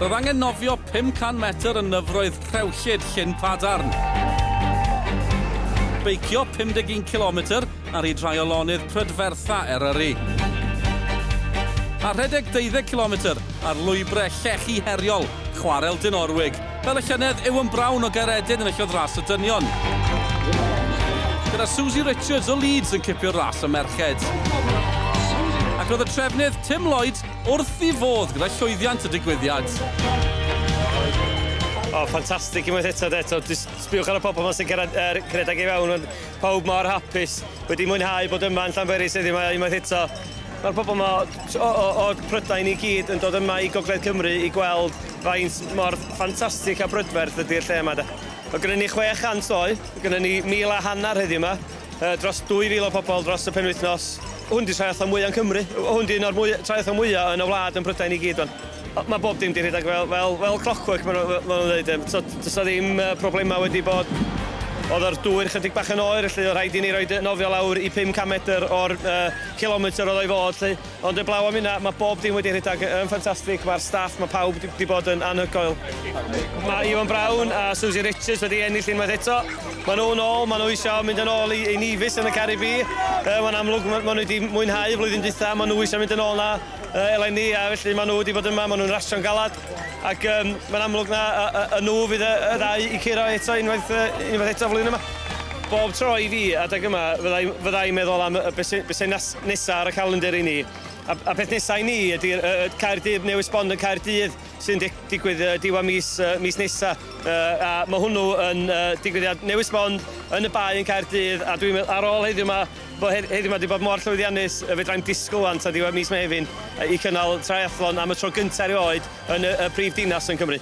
Roedd angen nofio 500 metr yn nyfroedd rhewllyd Llyn Padarn. Beicio 51 kilometr ar hyd rhai o lonydd prydfertha Eryri. A rhedeg 20 kilometr ar lwybrau llechi heriol chwarel Dinorwig, fel y llynedd Iwan Brown o Gaeredin yn ellodd ras y dynion. Gyda Susie Richards o Leeds yn cipio'r ras y merched. Ac roedd y trefnydd Tim Lloyd Wrth i fod gyda llwyddiant y digwyddiad. O, ffantastig unwaith eto, de. So, just sbiwch ar y pobl yma sy'n cyrraedd er, cyrraedd i fewn. Ond pawb mor hapus, wedi mwynhau bod yma yn Llanberis heddiw mae unwaith eto. Mae'r pobl yma o, o, o Prydain i gyd yn dod yma i Gogledd Cymru i gweld faint mor ffantastig a brydferth ydy'r lle yma. De. Mae gennym ni 600 oed, mae gennym ni 1,000 a hanner heddiw yma, Yy dros 2,000 o pobol dros y penwythnos. Hwn 'di triathlon mwya yn Cymru. Hwn 'di un o'r mwy- triathlon mwya yn y wlad yn Prydain i gyd wan. O- ma' bob dim 'di rhedag fel fel fel clockwork ma' nw fe- ma' nw'n ddeud yym so do's 'na ddim yy problema wedi bod. O'dd yr dŵr chydig bach yn oer felly o' rhaid i ni roid yy nofio lawr i pum can medr o'r yy cilometr o'dd o i fod 'lly. Ond eblaw am hynna, mae bob dim wedi rhedeg yn ffantastig, mae'r staff, mae pawb wedi bod yn anhygoel. Mae Iwan Brown a Suzy Richards wedi ennill unwaith eto. Maen nhw'n ôl, maen nhw eisiau mynd yn ôl i, i Nevis yn y Caribi. Uh, mae'n amlwg, maen nhw wedi mwynhau flwyddyn dwytha, maen nhw eisiau mynd yn ôl na uh, eleni, a felly maen nhw wedi bod yma, maen nhw'n rasio'n galad. Ac um, mae'n amlwg na y, y, y nhw fydd y, y ddau i curo eto unwaith, uh, unwaith eto flwyddyn yma. Bob tro i fi adeg yma, fyddai'n fyddai meddwl am y beth sy'n nesaf ar y calendr i ni. A, a peth nesaf i ni ydy uh, Caerdydd newydd sbond yn Caerdydd sy'n digwydd uh, diwa mis, uh, mis nesaf. Uh, a mae hwnnw yn uh, digwyddiad newydd sbond yn y bae yn Caerdydd a dwi'n ar ôl heddiw yma Bo hedd heddiw 'ma 'di bod mor llwyddiannus y fedrai'm disgwyl 'wan tua diwedd mis Mehefin i cynnal triathlon am y tro gynta' erioed yn y y prif dinas yn Cymru.